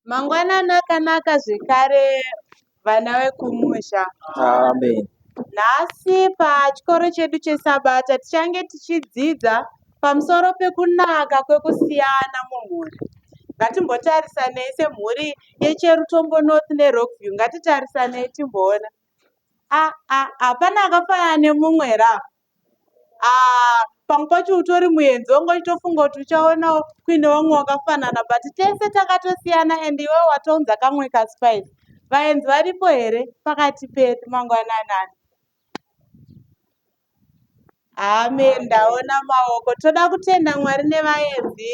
Mangwanani akanaka zvekare vana vekumusha. Amen. Nhasi pachikoro chedu chesabata tichange tichidzidza pamusoro pekunaka kwekusiyana mumhuri. Ngatimbotarisanei semhuri yeCherutombo North neRockview. Ngatitarisanei timboona. Ah, ah, hapana akafanana nemumwe here apa? Ah, pamwe pacho utori muenzi wangu uchitofunga kuti uchaonawo kuine vamwe wakafanana but tese takatosiyana and iwe watounza kamwe kaspice vaenzi varipo here pakati pedu mangwananani hame ndaona maoko toda kutenda mwari nevaenzi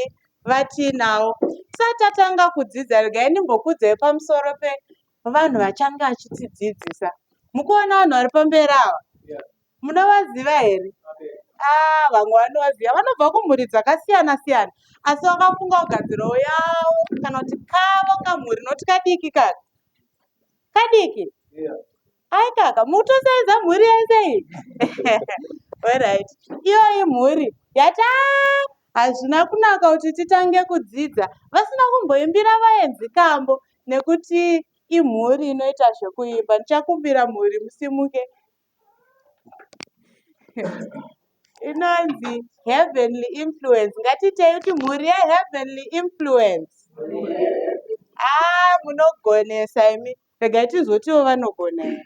vatiinawo satatanga kudzidza regai ndimbokudzai pamusoro pevanhu vachange vachitidzidzisa mukuona vanhu vari pamberi ava munovaziva here ah, vamwe vanovaziva vanobva kumhuri dzakasiyana siyana asi vakafunga kugadzirawo yavo kana kuti kavo kamhuri noti kadiki kaka kadiki ai kaka mutosaidza mhuri yese iyi orit iyoyi mhuri yataa hazvina kunaka kuti titange kudzidza vasina kumboimbira vaenzi kambo nekuti imhuri inoita zvekuimba ndichakumbira mhuri musimuke inonzi heavenly influence ngatitei kuti mhuri yeheavenly influence aa munogonesa imi regai tizotiwo vanogona here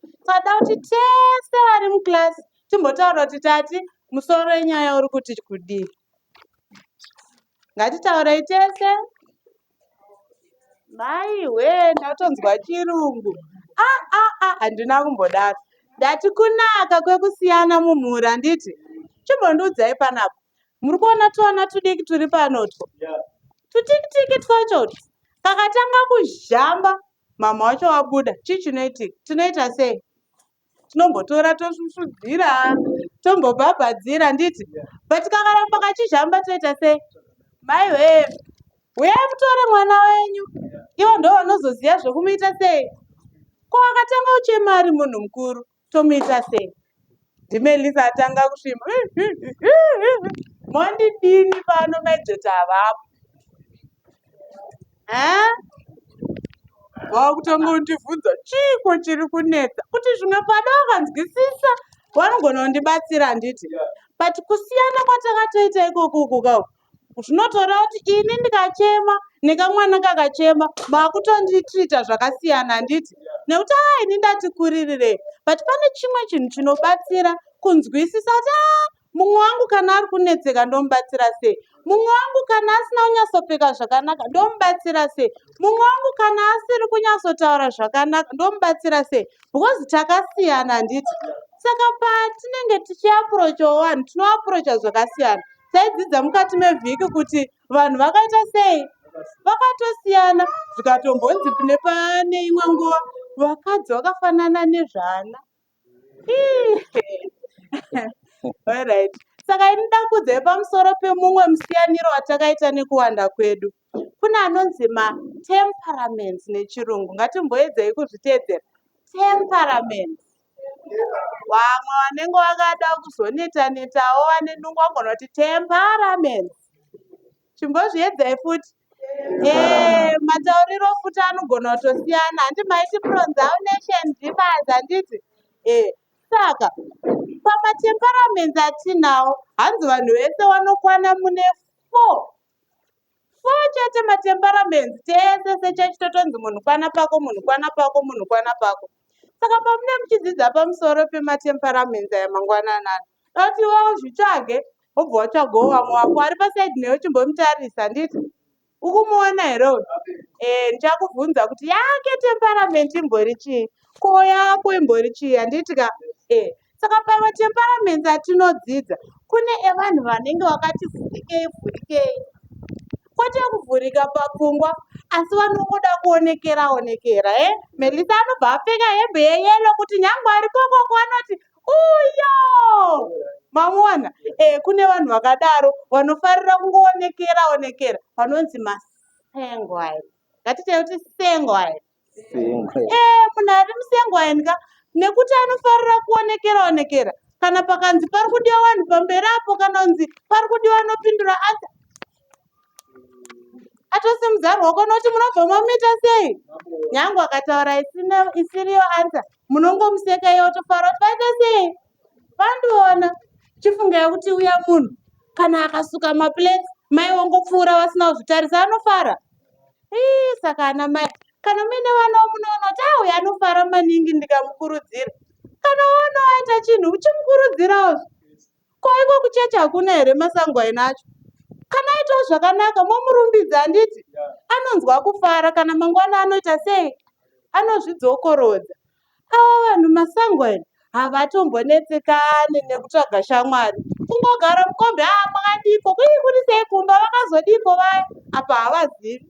Tinoda kuti tese vari muclass timbotaura kuti tati musoro wenyaya uri kuti kudii. Ngatitaurei tese. Maiwe ndatonzwa chirungu. Ah ah ah handina kumbodaro. Ndati kunaka kwekusiyana mumhuri handiti? Chimbondiudzai panapa. Muri kuona tuana tudiki turi panotwo. Tutiki tiki twacho kakatanga kuzhamba Mhamha wacho wabuda. Chii chinoitika? Tinoita sei? Tinombotora tosvusvudzira, tombobhabhadzira handiti? But kakaramba kachizhamba toita sei? Mai wee, huyai mutore mwana wenyu. Ivo ndovanozoziva zvekumuita sei? Ko wakatanga uchema ari munhu mukuru. Tomuita sei? NdiMelisa atanga kusvimba. Mondidini pano mejeti havapo. Eh? Vakutanga kundivhunza chiiko chiri kunetsa kuti zvimwe pada vakanzwisisa vanogona kundibatsira handiti? But kusiyana kwatakatoita ikoko kuka zvinotoreva kuti ini ndikachema nekamwana kakachema makutonditrita zvakasiyana handiti nekuti aa ah, ini ndati kuririrei but pane chimwe chinhu chinobatsira kunzwisisa kuti a ah, mumwe wangu kana ari kunetseka ndomubatsira sei mumwe wangu kana asina kunyatsopfeka zvakanaka ndomubatsira sei mumwe wangu kana asiri kunyatsotaura zvakanaka ndomubatsira sei because takasiyana handiti saka patinenge tichiaprochawo vanhu tinoaprocha zvakasiyana taidzidza mukati mevhiki kuti vanhu vakaita sei vakatosiyana zvikatombonzi pine pane imwe nguva vakadzi vakafanana nezvana saka ini ndakudzai pamusoro pemumwe musiyaniro watakaita nekuwanda kwedu kune anonzi matemperaments nechirungu ngatimboedzei kuzviteedzera temperaments vamwe vanenge vakada kuzoneta netawo vane nungu vagona kuti temperaments chimbozviedzai futi eh, matauriro futi anogona kutosiyana handi maiti pronsounation difference handiti eh, saka pamatemperaments atinawo hanzi vanhu vese vanokwana mune four so chete matemperaments tese sechurch totonzi munhu kwana pako munhu kwana pako munhu kwana pako saka pamune muchidzidza pamusoro pematemperaments aya mangwananani dati wa uzvitsvage wobva watsvagawo vamwe wako ari pasaidi newe chimbomutarisa handiti ukumuona here uyu e eh, ndichakubvunza kuti yake temperamenti imbori chii ko yako imbori chii handiti ka e eh, Saka pamatemperaments atinodzidza kune evanhu vanenge vakati vhurikei vhurikei kwete kuvhurika papfungwa asi vanongoda kuonekera onekera e eh? melisa anobva apfeka hembe yeyelo kuti nyange ari kokoko anoti uyo mamuona e eh, kune vanhu vakadaro vanofarira kungoonekera onekera vanonzi masengwai ngatitei kuti sengwai ee munhu ari musengo aendka nekuti anofarira kuonekera onekera kana pakanzi pari kudiwa vanhu pamberi apo kana unzi pari kudiwa anopindura asa atose muzaro wako noti munobva mamuita sei nyange akataura isiriyo ansa munongomuseka iye otofara kuti vaita sei vandiona chifungira kuti uya munhu kana akasuka maplates mai wongopfuura vasina kuzvitarisa anofara ii saka ana mai kana muine vana womunoona kuti auya anofara maningi ndikamukurudzira kana woona waita chinhu uchimukurudzirawo ko iko kuchechi hakuna here masango aina acho kana aitawo zvakanaka momurumbidza handiti anonzwa kufara kana mangwana anoita sei anozvidzokorodza Ava vanhu masangwena havatombonetsekani nekutsvaga shamwari kungogara mukombi aa makadiiko kuii kuri sei kumba vakazodiiko vaya apa havazivi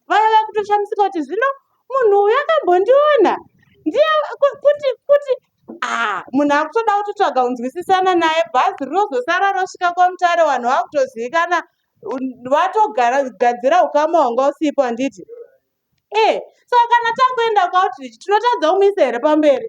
vaya vakutoshamisika kuti zvino munhu uyu akambondiona ndiye kuti kuti aa munhu akutoda kutotsvaga kunzwisisana naye bhazi rinozosara rosvika kwamutare vanhu vakutozivikana vatogara gadzira ukama hwanga usipo handiti Eh, saka kana takuenda kuoutreach tinotadza kumuisa here pamberi?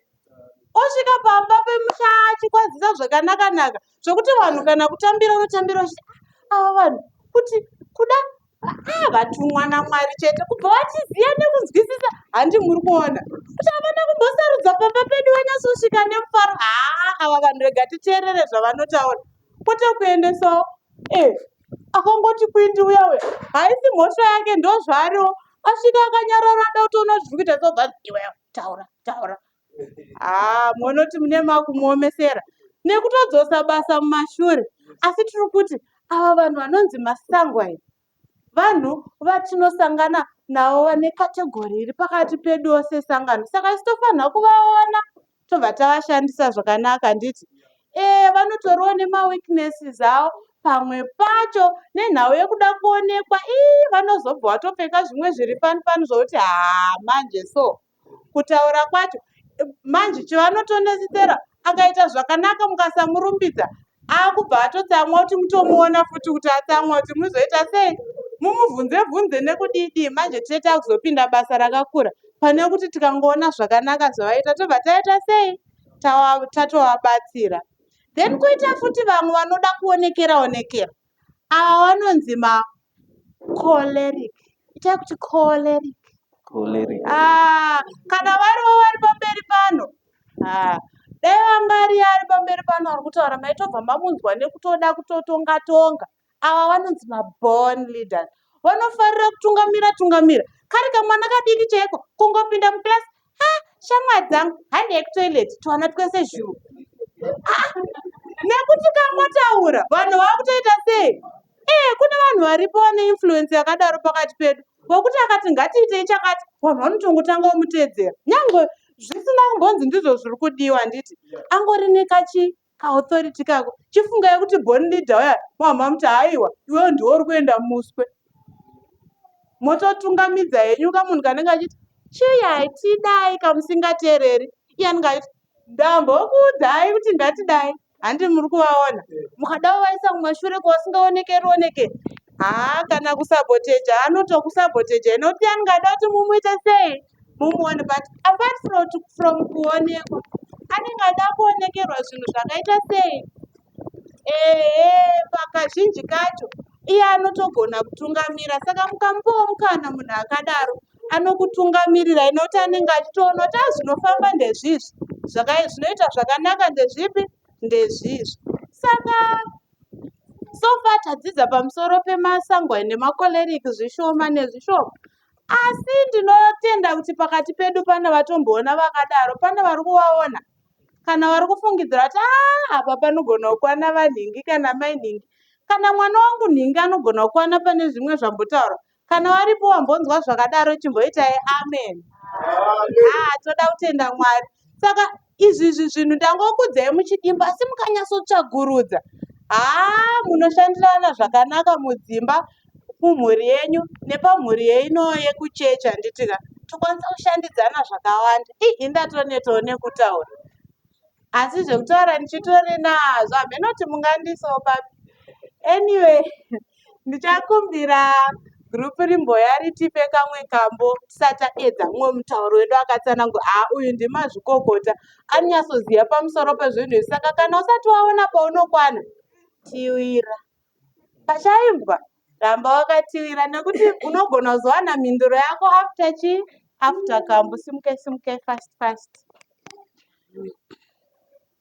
Osvika pamba pemusha achikwazisa zvakanaka-naka zvokuti vanhu kana kutambira unotambira uchiti ah, ava vanhu kuti kuda ah, vatumwa naMwari chete kubva vachiziva nekunzwisisa handi muri kuona kuti havana kumbosarudza pamba pedu vanyasosvika nemufaro haa ah, ava vanhu rega titeerere zvavanotaura kwete kuendesawo eh, Akangoti kwindi uya uya haisi mhosva yake ndozvaariwo asvika akanyarara ada kutoona zviri kuita zobva iwe taura taura haa ah, monoti mune makumuomesera nekutodzosa basa mumashure asi tiri kuti ava vanhu vanonzi masangwa iri vanhu vatinosangana navo vane kategori iri pakati pedu ose sangano saka isitofanira kuvaona tobva tavashandisa zvakanaka handiti ee vanotoriwo nemaweaknesses avo pamwe pacho nenhau yekuda kuonekwa ii vanozobva watopfeka zvimwe zviri fani fani zvokuti haa manje so kutaura kwacho manje chivanotonesesera akaita zvakanaka mukasamurumbidza akubva atotsamwa kuti mutomuona futi kuti atsamwa kuti muzoita sei mumubvunze bvunze nekudidi manje tine takuzopinda basa rakakura pane kuti tikangoona zvakanaka zvavaita tobva taita sei tatovabatsira then kuita futi vamwe vanoda kuonekera onekera Ava vanonzi ma choleric. Itai kuti choleric. Choleric. Ah, kana varivo vari pamberi pano. Ah, dai vangari ari pamberi pano ari kutaura maitobva mamunzwa nekutoda kutotonga tonga. Ava vanonzi ma born leaders. Vanofarira kutungamira tungamira. Kari kamwana kadiki chaiko kungopinda muclass ha shamwari dzangu handei kutoilet twana twese zhuu ah, nekuti kamotaura vanhu vakutoita sei ee eh, kune vanhu varipo vane influence yakadaro pakati pedu vokuti akati ngatiitei chakati vanhu vanotongotanga omutedzera nyange zvisina kumbonzi ndizvo zviri kudiwa handiti angori nekachi Kaauthority kako chifungai kuti born leader waya mama muti haiwa iwewe ndiwe uri kuenda muswe mototungamidza henyu kamunhu kanenge achiti chiyai tidai kamusingateereri iye anenge achiti ndambokuudzai kuti ndatidai handi muri kuvaona mukada kuvaisa mumashure kwasingaonekeri oneke haa kana kusaboteja anotokusaboteja inokuti anenge ada kuti mumuite sei mumuone but apart from, from kuonekwa anenge ada kuonekerwa zvinhu zvakaita sei ehe pakazhinji kacho iye anotogona kutungamira saka mukamupawo mukana munhu akadaro anokutungamirira inoti anenge achitoona kuti azvinofamba ah, ndezvizvi zvinoita zvakanaka ndezvipi ndezvizvi saka sofa tadzidza pamusoro pemasango nemakoleriki zvishoma nezvishoma Asi ndinotenda kuti pakati pedu pane vatomboona vakadaro, pane vari kuvaona kana vari kufungidzira kuti ah, apa panogona kukwana vanhingi kana mai nhingi kana mwana wangu nhingi anogona kukwana pane zvimwe zvambotaurwa kana varipo wambonzwa zvakadaro chimboitai amen ah, toda kutenda mwari saka Izvi izvi zvinhu ndangokudzai muchidimba asi mukanyatsotsvagurudza haa munoshandirana zvakanaka mudzimba mumhuri yenyu nepamhuri yeino yekuchechi handiti ka tokwanisa kushandidzana zvakawanda ii indatonetawo nekutaura asi zvekutaura ndichitori nazvo hameno kuti mungandiisawo papi anyway ndichakumbira group rimboya ritipe kamwe kambo tisati taedza mumwe mutauro wedu akatsanangura haa uyu ndimazvikokota anonyatsoziva pamusoro pezvinhu izvi saka kana usati waona paunokwana tiwira pachaimbwa ramba wakatiwira nekuti unogona kuzowana mhinduro yako after chi after kambo simuke simuke fast fast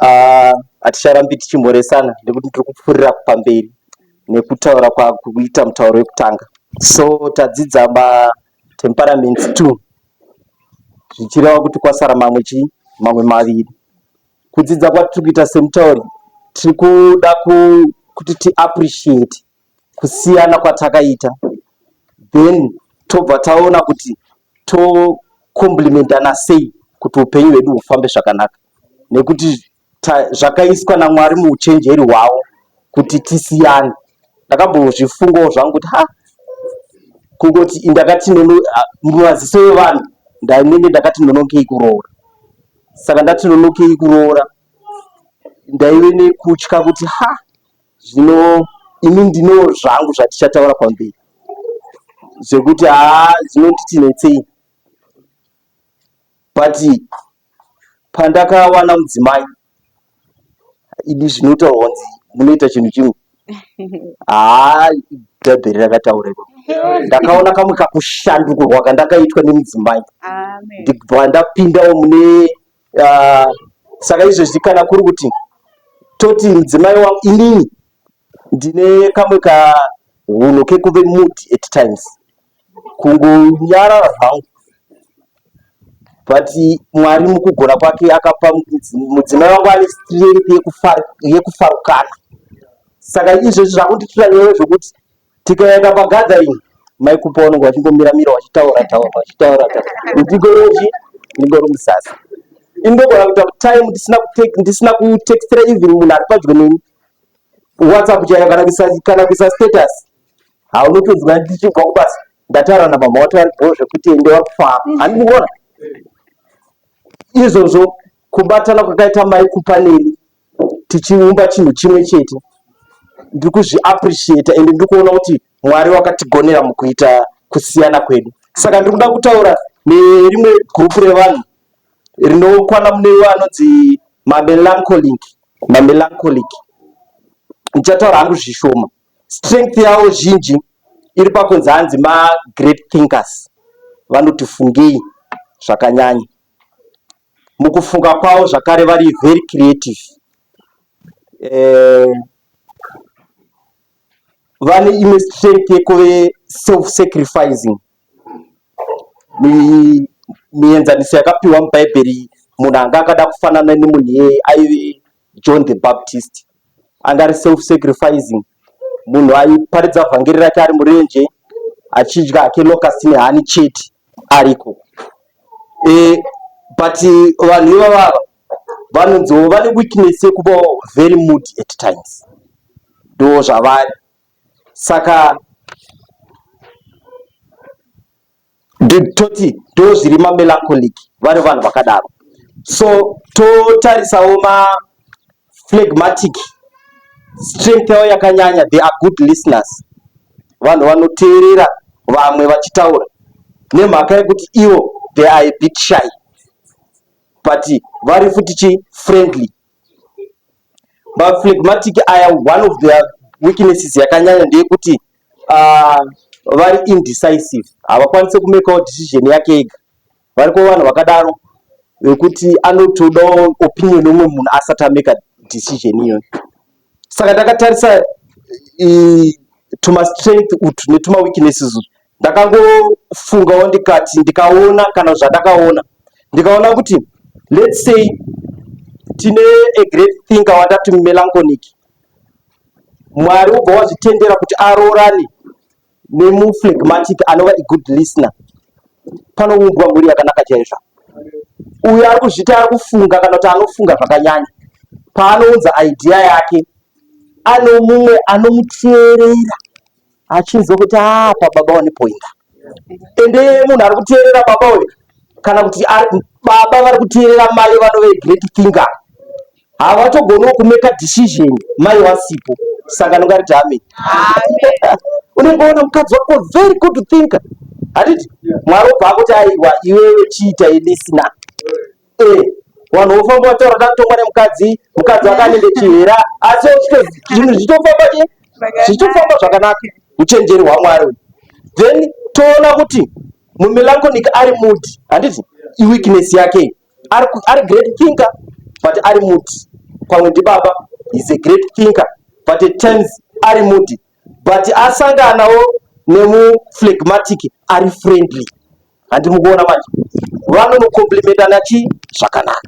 Ah, haticharambi tichimhoresana nekuti tiri kupfuurira pamberi nekutaura kwakuita mutauro wekutanga so tadzidza ma temperaments two zvichireva kuti kwasara mamwe chii mamwe maviri Kudzidza kwatiri kuita semutauri tiri kuda kuti tiappreciate kusiyana kwatakaita then tobva taona kuti tokomplimentana sei kuti upenyu hwedu hufambe zvakanaka nekuti zvakaiswa namwari muuchenjeri hwavo kuti tisiyane ndakambozvifungawo zvangu kuti ha kungoti ndakati mumaziso evanhu ndainenge ndakati nonokei kuroora saka ndati nonokei kuroora ndaive nekutya kuti ha zvino ini ndino zvangu zvatichataura pamberi zvekuti haa zvinonditi netsei but pandakawana mudzimai Idi zvinotaurwa kunzi munoita chinhu chimwe. Haa bhaibheri rakataura iko. Ndakaona kamwe kakushandukurwa kandakaitwa nemudzimai. Amen. Ndibva ndapindawo mune ah, saka izvezvi kana kuri kuti toti mudzimai wangu inini ndine kamwe kahunhu kekuve mood at times. kungonyarara zvangu but mwari mukugona kwake akapa mudzimai wangu ane strength yekufarukana saka izvezvi zvakunditura nyaya zvekuti tikaenda pagathering mai kupa vanenge vachingomira mira vachitaura taura vachitaura taura ndigoroji ndingori musasa indogona kuita time ndisina ndisina kutextera even munhu ari padyo neni whatsapp chaiyo kana kuisa status haunotonzwa ndichibva kubasa ndataura namama wato ari bho zvekuti ende wakufaa handidi kuona izvozvo kubatana kwakaita mai kupa neni tichiumba chinhu chimwe chete ndiri kuzviappreciata ende ndiri kuona kuti mwari wakatigonera mukuita kusiyana kwedu saka ndiri kuda kutaura nerimwe gurupu revanhu rinokwana mune iwo anonzi mamelancholic mamelancholic ndichataura hangu zvishoma Strength yavo zhinji iri pakunzi hanzi ma great thinkers vanoti fungei zvakanyanya. Mukufunga kwavo zvakare vari very creative. Eh, vane imwe strength yekuve self sacrificing. Mienzaniso yakapiwa mubhaibheri munhu anga akada kufanana nemunhu iyeye aive John the Baptist anga ari self sacrificing munhu aiparidza vhangeri rake ari murenje achidya hake locust nehani chete ariko e, but vanhu ivavava vanonziwo vane weakness yekuva very mood at times ndo zvavari saka toti ndozviri mamelancholic vari vanhu vakadaro so totarisawo maflegmatic strength yavo yakanyanya they are good listeners vanhu vanoteerera vamwe vachitaura nemhaka yekuti ivo they are a bit shy but vari futi chi friendly Maphlegmatic aya one of their weaknesses yakanyanya ndeyekuti uh, vari indecisive, havakwanise kumekawo decision yake ega. Variko vanhu vakadaro vekuti anotodawo opinion yomwe munhu asati ameka decision iyoyo. saka ndakatarisa tuma strength utu netuma weaknesses utu ndakangofungawo ndikati ndikaona kana zvandakaona ndikaona kuti let's say tine a great thinker watati melanchonic mwari ubva wazvitendera kuti aroorane nemuphlegmatic anova a good listener panoumbwa mhuri yakanaka chaizvo uyo ari kuzvita ari kufunga kana kuti anofunga zvakanyanya paanounza idea yake ano mumwe anomuteerera achinzwa kuti apa ah, baba wane poinda ende munhu ari kuteerera baba uyo kana kuti baba vari kuteerera mai vanove great finger Havatogono kumeka decision mai wasipo saka nongati tami. Unemboona mukadzi wako very good to think. Handiti mwari obva akuti aiwa iwewe chiita ilisina. Eh, vanhu vofamba vataura tatongwa nemukadzi, mukadzi akanenge chihera asi zvinhu zvichitofamba che zvichitofamba zvakanaka uchenjeri hwamwari uyu. Then toona kuti mumelancholic ari mood handiti iweakness yake iyi. ari, ari great thinker but ari muti pamwe ndibaba is a great thinker but at times ari muti but asanganawo nemuflegmatic ari friendly handimukuona manje vanonokomplimentana chii zvakanaka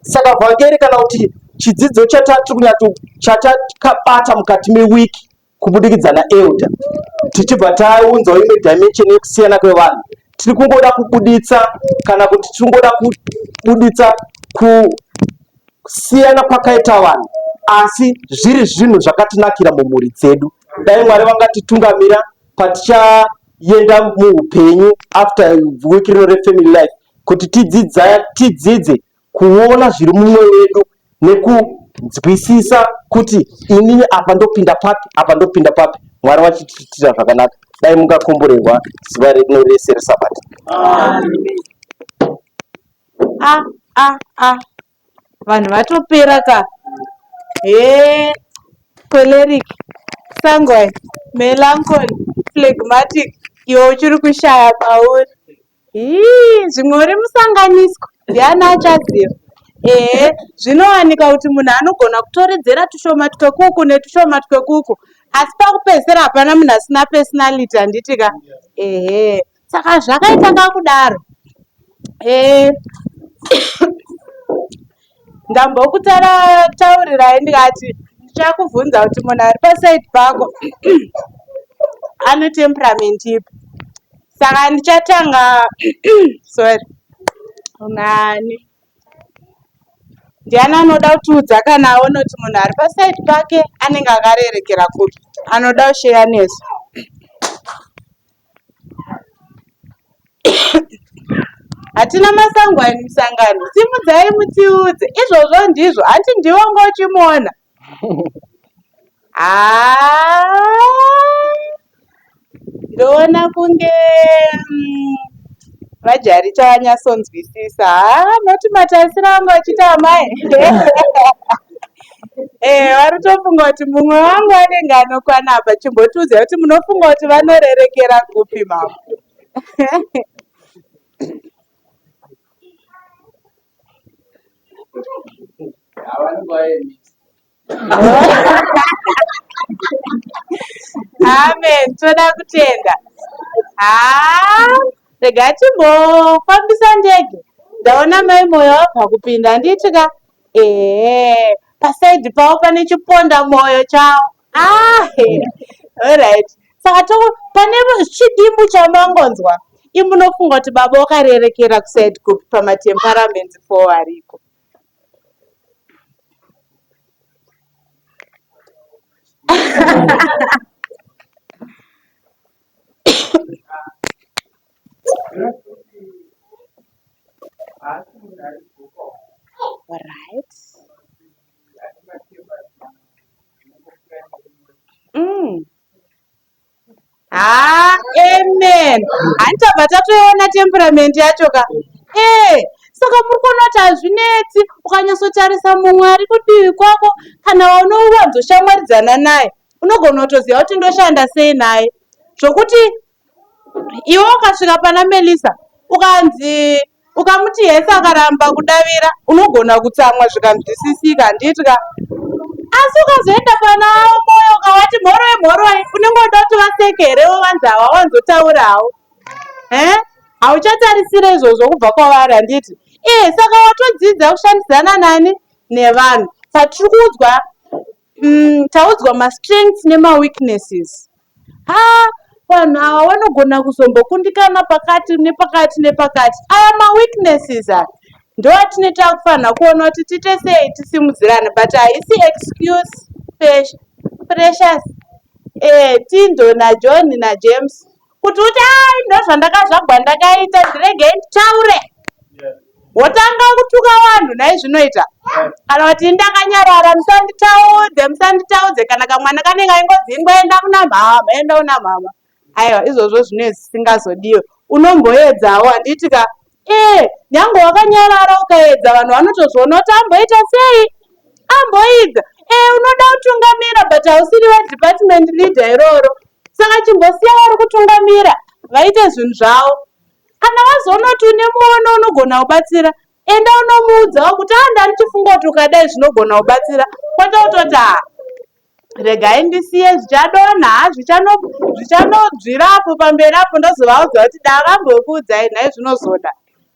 saka vhangeri kana kuti chidzidzo chatatiri kunyati chatakabata mukati mewiki kubudikidza naelder tichibva taunzawo imwe dimension yekusiyana kwevanhu tiri kungoda kubuditsa kana kuti tiri kungoda kubuditsa kusiyana kwakaita vanhu asi zviri zvinhu zvakatinakira mumhuri dzedu dai mwari vangatitungamira patichaenda muupenyu after week rino refamily life kuti tidzidzaya tidzidze kuona zviri mumwoyo wedu nekunzwisisa kuti inini apa ndopinda papi apa ndopinda papi mwari vachitiitira zvakanaka dai mungakomborerwa zuva rino rese resabata a a a vanhu vatopera ka hee choleric sanguine melancholy phlegmatic iwe uchiri kushaya pauri Hii, zvimwe uri musanganiswa ndiani achaziva ehe zvinowanika kuti munhu anogona kutoredzera tushoma twekuku netushoma twekuku asi pakupedzisira hapana munhu asina personality handiti ka ehe saka zvakaita kakudaro ehe ndambokutaurirai ndikati ndichakubvunza kuti munhu ari pasaidi pako ane temperament ipi saka ndichatanga sorry nani ndiani anoda kutiudza kana aona kuti munhu ari pasaidi pake anenge akarerekera kupi anoda kusheya nesu hatina masango ani musangano simudzai mutiudze izvozvo ndizvo hanti ndiwo ngo uchimuona ndoona kunge mm, vajari tavanyasonzwisisa noti matarisiro angu achiti amai Eh, vari kutofunga kuti mumwe wangu anenge anokwana apa chimbotiudza kuti munofunga kuti vanorerekera kupi mama amen toda kutenda haa ah, rega timbofambisa ndege ndaona mai moyo wabva kupinda handiti ka Ehe paside pavo pane chiponda moyo chavo ah, alright saka to pane chidimbu chamangonzwa imunofunga kuti baba wakarerekera kuside kupi pamatemperaments fo ariko Right. Mm. Ah, amen. Hantabva tatoona temperament yacho ka. Eh, saka muri kuona kuti hazvinetsi ukanyatsotarisa mumwe ari kudivi kwako kana waunowanzoshamwaridzana naye unogona kutoziva kuti ndoshanda sei naye zvokuti Iwe ukasvika pana Melisa ukanzi ukamuti yes akaramba kudavira unogona kutsamwa zvikanzwisisika handiti ka asi ukazoenda pana moyo ukavati mhoroi mhoroi unenge uda kuti vaseke here wovanzi hawawanzotaura hawo e eh? hauchatarisire izvozvo kubva kwavari handiti ee eh, saka watodzidza kushandisana nani nevanhu patiri kuudzwa Umm taudzwa ma strengths nema weaknesses haa vanhu ava vanogona kuzombokundikana pakati nepakati nepakati aya ma weaknesses aya ndoatine takufanha kuona kuti tiite sei tisimudzirane but haisi excuse precious eh Tindo na John na James kuti uti ai ndozvandakazvagwa ndakaita ndirege nditaure wotanga kutuka vanhu nhai zvinoita kana kuti ndakanyarara musanditaudze musanditaudze kana kamwana kanenge aingozi ingoenda kuna mhama enda kuna mhama aiwa izvozvo zvine zvisingazodiwe unomboedzawo handiti ka Ee, nyangwe wakanyarara ukaedza vanhu vanotozviona kuti amboita sei? Amboidza. Ee, unoda kutungamira but hausiri vadepartment leader iroro. Saka chimbosiya vari kutungamira vaite zvinhu zvavo. Kana wazoona kuti une muono unogona kubatsira, enda unomuudzawo kuti aa ndanichifunga kuti ukadai zvinogona kubatsira kwete kutoti aa regai ndisiye zvichadonha zvichanodzvira apo pamberi apo ndozovaudza kuti da vambokuudzai nhai zvinozoda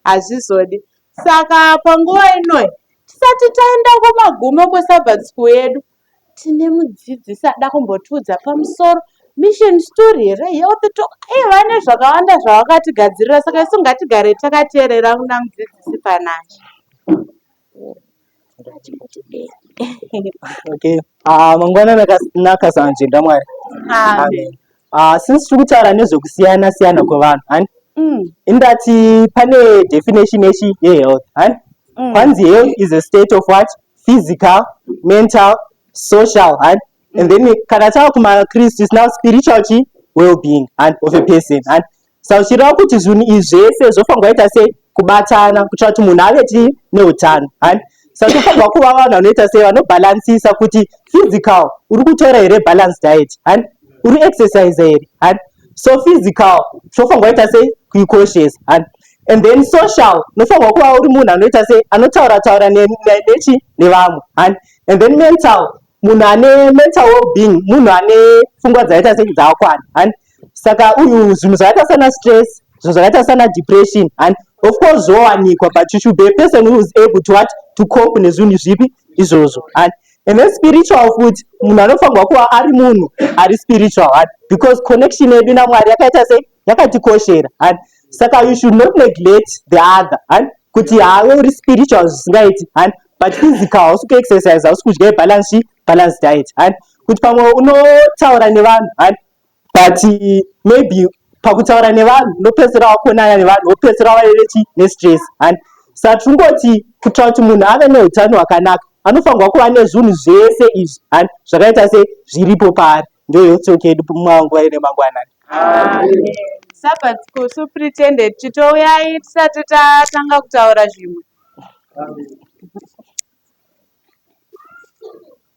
hazvizodi saka panguva inoi tisati taenda kumagumo kwesabhat school yedu tine mudzidzisi ada kumbotiudza pamusoro mission story here health talk aiva nezvakawanda zvavakatigadzirira saka isu ngatigare takateerera kuna mudzidzisi panashe okay ah mangwana nakanaka sanje ndamwari amen ah since tiri kutaura nezvekusiyana siyana kwevanhu hani mm. indati pane definition yechi yehealth hani mm. kwanzi health is a state of what physical mental social hani mm. and then kana tava kumakristu is now spiritual chi well being hani of a person hani Sarudzirawo kuti zvinhu izvi zvese zvofanirwa kuita sei kubatana kuitira kuti munhu ave chii neutano hani saka tofanirwa kuva vanhu vanoita sei vanobhalansisa kuti physical uri kutora here balance diet hani uri exercise here hani so physical tofanirwa kuita sei kuikoshesa hani and then social nofanirwa kuva uri munhu anoita sei anotaura taura nechi nevamwe hani and then mental munhu ane mental wellbeing munhu ane pfungwa dzaita sei dzaakwana hani saka uyu zvinhu zvakaita sana stress zvinhu zvakaita sana depression and of course zvowanikwa but you should be a person who is able to what to cope nezvinhu zvipi izvozvo and and then spiritual futi munhu anofanirwa kuva ari munhu ari spiritual and because connection yedu namwari yakaita sei yakatikoshera and saka you should not neglect the other and kuti have uri spiritual zvisingaiti and but physical hausi kuexercise hausi kudya ibalance balance diet and kuti pamwe unotaura nevanhu and but maybe pakutaura nevanhu unopedzisira wakonana nevanhu wopedzisira wave vechi nestress and saka tiri kungoti kuitira kuti munhu ave neutano hwakanaka anofanirwa kuva nezvinhu zvese izvi and zvakaita se zviripo paari ndo health talk yedu manguva ine mangwanani sabbath school supretended titouyai tisati tatanga kutaura zvimwe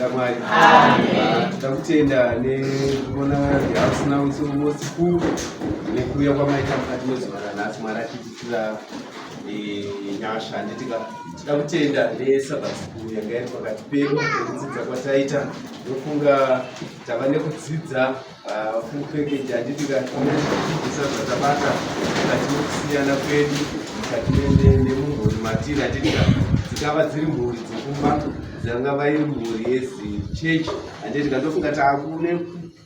Mwari. Tinoda kutenda nekuona house now it's almost full nekuuya kwamaita mukati mezuva ranhasi Mwari atiitira eh, nyasha handitika tinoda kutenda nesabbat school yanga iri pakati pedu nekudzidza kwataita ndofunga tava nekudzidza Ah, full package handiti kaisa zvatabata mukati mekusiyana kwedu mukati nemumhuri matiri handiti ka dzingava dziri mhuri dzekumba dzangava iri mhuri yezichechi handiti ka ndofunga takune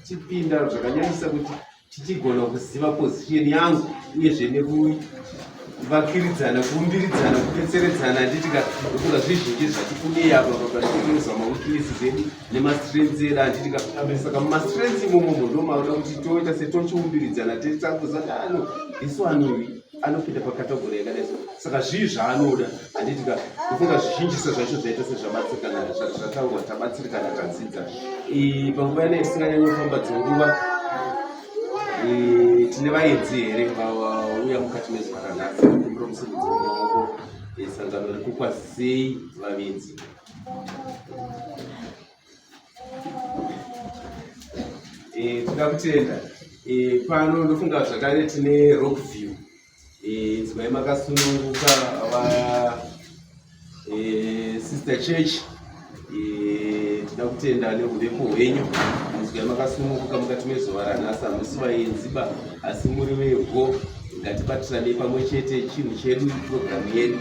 tichipinda zvakanyanyisa kuti tichigona kuziva position yangu uyezve nekuvakiridzana kuumbiridzana kubetseredzana handiti ka ndofunga zvizhinji zvatikunei apa papatikuzama wikilisi zvedu nemastrengths edu atiti kakutambe saka mumastrengths imomomo ndomauda kuti toita setochiumbiridzana tetakuza kuti ano isu anovi anopinda pakategori yakadai so saka zvii zvaanoda handiti ka kufunga zvizhinjisa zvacho zvaita sezvabatsirikana zvataurwa tabatsirikana tadzidza panguva yana itisinganyanyofamba dzenguva tine vaedzi here vauya mukati mezuva ranhasi kumbira musimudzi wemaoko esangano rekukwazisei vavedzi Eh, toda kutenda eh, pano ndofunga zvakare tine rock view eh, dzimai makasununguka vaya sister church toda kutenda neurepo hwenyu mudzimai makasununguka mukati mezuva ranhasi hamusi vayenziba asi muri vevho ngatibatirane pamwe chete chinhu chedu programu yedu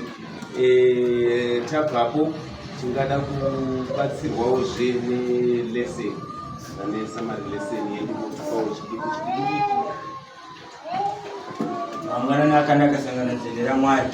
Eh, tabvapo tingada kubatsirwawo zve nelesson vane samari lesson yedu motipawo chidiki chidiki mangwanani akanaka sangano dzende ramwari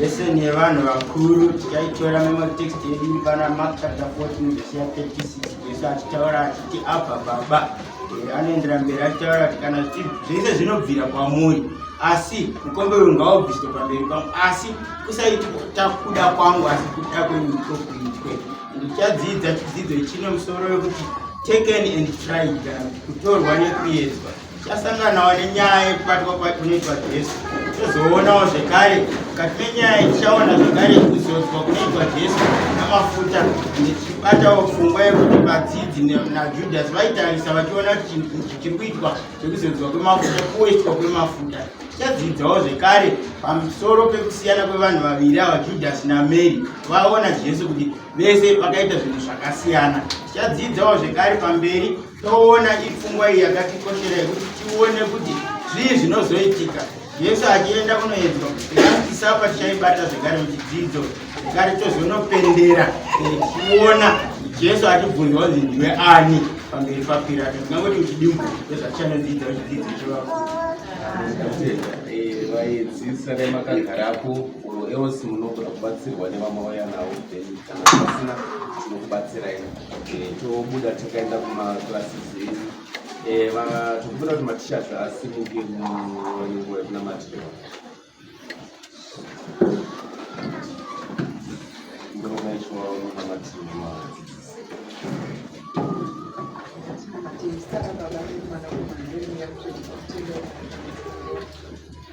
lesson yevanhu vakuru tikaitora mematext yedu iri pana mark chapter 14 vhesi ya 36 jesu achitaura achiti abva baba Eh, anoendera mberi achitaura kuti kana zvese zvinobvira kwamuri asi mukombe uyu ngaubviswe pamberi pangu asi kusaiti takuda kwangu asi kuda kwenyu kokuitwe ndichadzidza chidzidzo chine musoro wekuti taken and tried kana kuti kutorwa nekuedzwa chasanganawo nenyaya yekubatwa kwatinoitwa jesu tozoonawo zvekare mukati menyaya iyi tichaona zvekare kuzodzwa kunoitwa jesu namafuta ndichibatawo pfungwa yekuti vadzidzi najudhasi vaitarisa vachiona kuti chiri kuitwa chekuzodzwa kwemafuta kuoitwa kwemafuta tichadzidzawo zvekare pamusoro pekusiyana kwevanhu vaviri ava judhasi namary vaona jesu kuti vese vakaita zvinhu zvakasiyana tichadzidzawo zvekare pamberi toona ipfungwa iyi yakatikoshera yekuti tione kuti zvii zvinozoitika jesu achienda kunoedzwa aatisapa tichaibata zvekare muchidzidzo zvekare tozonopendera tichiona jesu achibvunzwa kuti ndiwe ani pamberi papirato ndingangoti muchidimbu ndozvatichanodzidza muchidzidzo chevakuru vaidzisa nemakagarapo oro else munogona kubatsirwa nevamwe vaya navo pasina tinokubatsira ino eh, tobuda takaenda kumaclasses edu eh, tokumbira kuti matishers asimuke munguva yekunamatira ndinomaitwa unamatirwa Thank you.